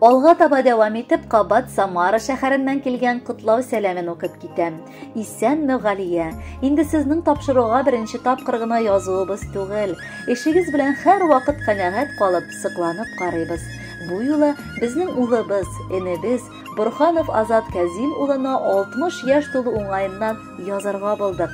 Алга таба дәвам итеп кабат Самара шәһәреннән килгән котлау сәламен укып китәм. Исәнме, Галия. Инде сезнең тапшыруга беренче тапкыр гына язуыбыз түгел. Эшегез белән һәр вакыт канәгать калып, сыкланып карыйбыз. Бу юлы безнең улыбыз, энебез Бурханов Азат Казим улына 60 яшь тулу уңаеннан язарга булдык.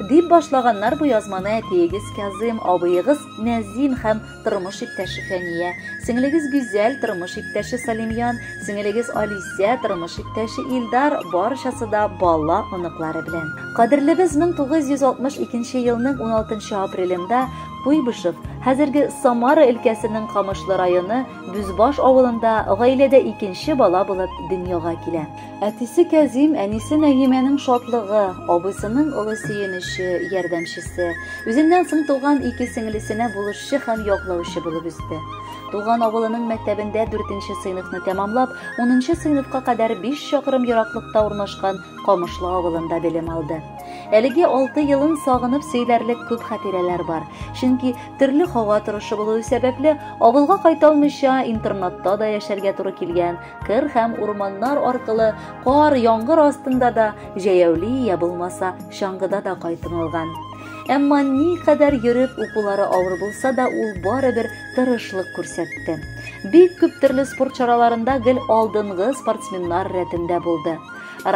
Дип башлаганнар бу язманы әтиегез Казым, абыегыз Нәзим һәм тормыш иптәше Фәния, сеңлегез Гүзәл, тормыш иптәше Салимьян, сеңлегез Алисә, тормыш иптәше Илдар, барчасы да бала оныклары белән. Кадерлебез 1962 елның 16 апрелендә Куйбышев, хәзерге Самара өлкәсенең Камышлы районы Бүзбаш авылында гаиләдә икенче бала булып дөньяга килә. Әтисе Кәзим, әнисе Нәгимәнең шатлыгы, абыйсының олы сөенече, ярдәмчесе, үзеннән соң туган ике сеңлесенә булышчы һәм яклаучы булып үсте. Туган авылының мәктәбендә 4 сыйныфны тәмамлап, 10 сыйныфка кадәр 5 чакрым ераклыкта урнашкан Камышлы авылында белем алды. Әлеге 6 елын сагынып сөйләрлек күп хатирәләр бар. Чөнки төрле һава торышы булуы сәбәпле, авылга кайта алмыйча, интернатта да яшәргә туры килгән. кыр һәм урманнар аркылы кар яңгыр астында да җәяүли я булмаса чаңгыда да кайтыңылган әмма никадәр йөреп укулары авыр булса да ул барыбер тырышлык күрсәтте бик күп төрле спорт чараларында гел алдынгы спортсменнар рәтендә булды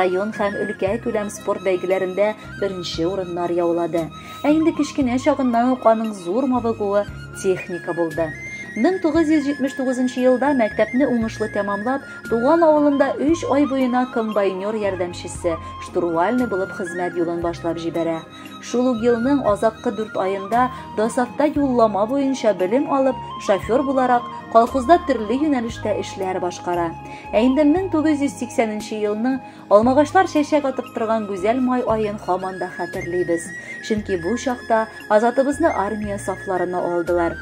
район һәм өлкә күләм спорт бәйгеләрендә беренче урыннар яулады Ә инде кечкенә чагыннан ук аның зур мавыгуы техника булды. 1979 елда мәктәпне уңышлы тәмамлап, туган авылында 3 ай буена комбайнер ярдәмчесе, штурвальный булып хезмәт юлын башлап җибәрә. Шул ук елның азаккы 4 аенда Досатта юллама буенча белем алып, шофер буларак колхозда төрле юнәлештә эшләр башкара. Ә инде 1980 елның Алмагачлар чәчәк атып торган гүзәл май аен хаман да хәтерлибез. Чөнки бу чакта азатыбызны армия сафларына алдылар.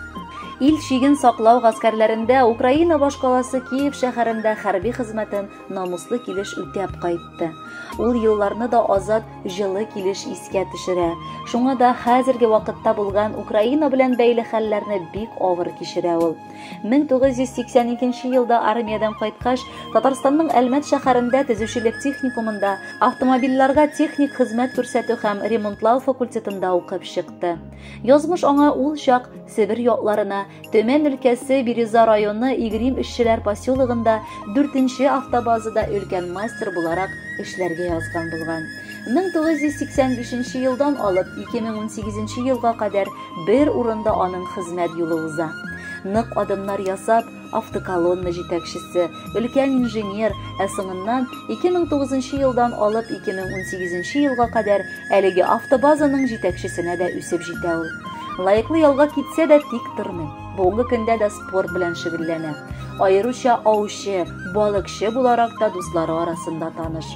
Ил чиген саклау гаскәрләрендә Украина башкаласы Киев шәһәрендә хәрби хезмәтен намуслы килеш үтәп кайтты. Ул елларны да азат җылы килеш искә төшерә. Шуңа да хәзерге вакытта булган Украина белән бәйле хәлләрне бик авыр кичерә ул. 1982 елда армиядән кайткач, Татарстанның Әлмәт шәһәрендә төзүчелек техникумында автомобильләргә техник хезмәт күрсәтү һәм ремонтлау факультетында укып чыкты. Язмыш аңа ул чак Себер ятларына, Төмән өлкәсе Бирюза районы Игрим эшчеләр поселогында 4 автобазада өлкән мастер буларак эшләргә язган булган. 1985 елдан алып 2018 елга кадәр Бер урында аның хезмәт юлы уза. Нык адымнар ясап, автоколонна җитәкчесе, өлкән инженер, ә соңыннан 2009 елдан алып 2018 елга кадәр әлеге автобазаның җитәкчесенә дә үсеп җитә ул. Лаеклы ялга китсә дә тик тормый. Бүгенге көндә дә спорт белән шөгыльләнә. Аеруча аучы, балыкчы буларак та дуслары арасында таныш.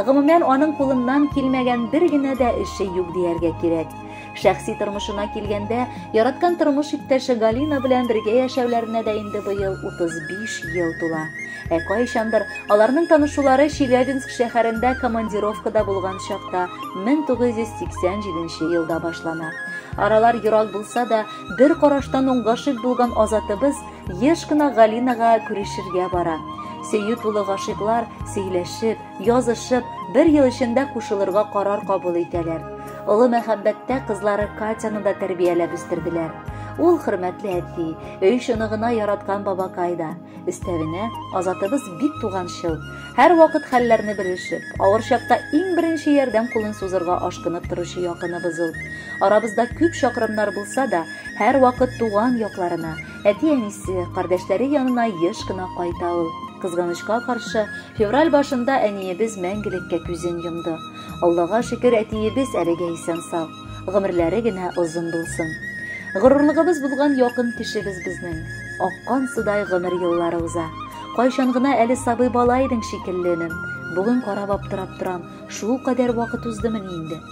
Гомумән, аның кулыннан килмәгән бер генә дә эше юк дияргә кирәк. Шәхси тормышына килгәндә, яраткан тормыш иптәше Галина белән бергә яшәүләренә дә инде быел 35 ел тула. Ә кайчандыр аларның танышулары Челябинск шәһәрендә командировкада булган чакта 1987 елда башлана. Аралар ерак булса да, бер караштан уң гашыйк булган Азатыбыз еш кына Галинага күрешергә бара. Сөю тулы гашыйклар сөйләшеп, Язышып, бер ел эчендә кушылырга карар кабул итәләр. Олы мәхәббәттә кызлары Катяны да тәрбияләп үстерделәр. Ул хөрмәтле әти, өй шыныгына яраткан бабакай да. Өстәвенә, Азатыбыз бик туганчыл. Һәрвакыт хәлләрне белешеп, авыр чакта иң беренче ярдәм кулын сузырга ашкынып торучы якыныбыз ул. Арабызда күп чакрымнар булса да, һәрвакыт туган якларына, Әти-әнисе, кардәшләре янына еш кына кайта ул. Кызганычка каршы, февраль башында әниебез мәңгелеккә күзен йомды. Аллага шөкер, әтиебез әлегә исән-сау. Гомерләре генә озын булсын. Горурлыгыбыз булган якын кешебез безнең. Аккан судай гомер еллары уза. Кайчан гына әле сабый бала идең шикелленем. Бүген карап аптырап торам, шул кадәр вакыт уздымыни инде.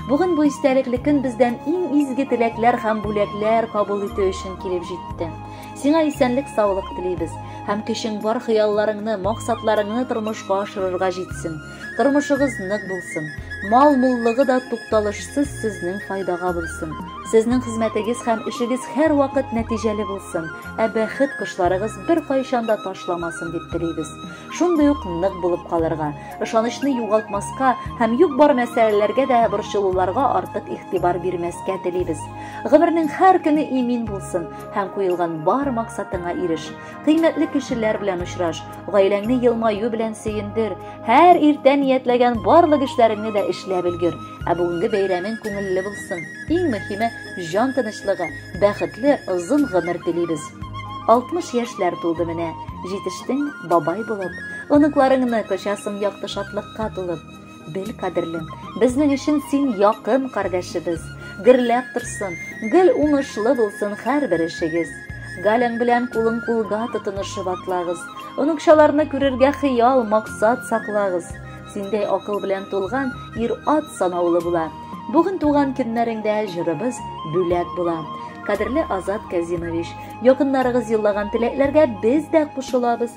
Бүген бу истәлекле көн бездән иң изге теләкләр һәм бүләкләр кабул итү өчен килеп җитте. Сиңа исәнлек саулык телибез һәм көчең бар хыялларыңны, максатларыңны тормышка ашырырга җитсен. Тормышыгыз нык булсын. Мал муллыгы да тукталышсыз сезнең файдага булсын. Сезнең хезмәтегез һәм эшегез һәр вакыт нәтиҗәле булсын, ә бәхет кошларыгыз бер кайчан да ташламасын дип телибез. Шундый ук нык булып калырга, ышанычны югалтмаска һәм юк бар мәсьәләләргә дә борчылуларга артык игътибар бирмәскә телибез. Гомернең һәр көне имин булсын һәм куелган бар максатыңа иреш. Кыйммәтле кешеләр белән очраш, гаиләңне елмаю белән сөендер. Һәр иртә ниятләгән барлык эшләреңне дә эшләп өлгер. Ә бүгенге бәйрәмең күңелле булсын. Иң мөһиме, җан тынычлыгы, бәхетле, озын гомер телибез. 60 яшьләр тулды менә, җитештең бабай булып. Оныкларыңны кочасың якты шатлыкка тулып. Бел, кадерлем, безнең өчен син якын кардәшебез. Гөрләп торсын, гел уңышлы булсын һәрбер эшегез. Галяң белән кулын кулга тотынышып атлагыз. Оныкчаларны күрергә хыял, максат саклагыз. Синдәй акыл белән тулган ир-ат санаулы була. Бүген туган көннәреңдә җырыбыз бүләк була. Кадерле Азат Казимович, якыннарыгыз юллаган теләкләргә без дә кушылабыз.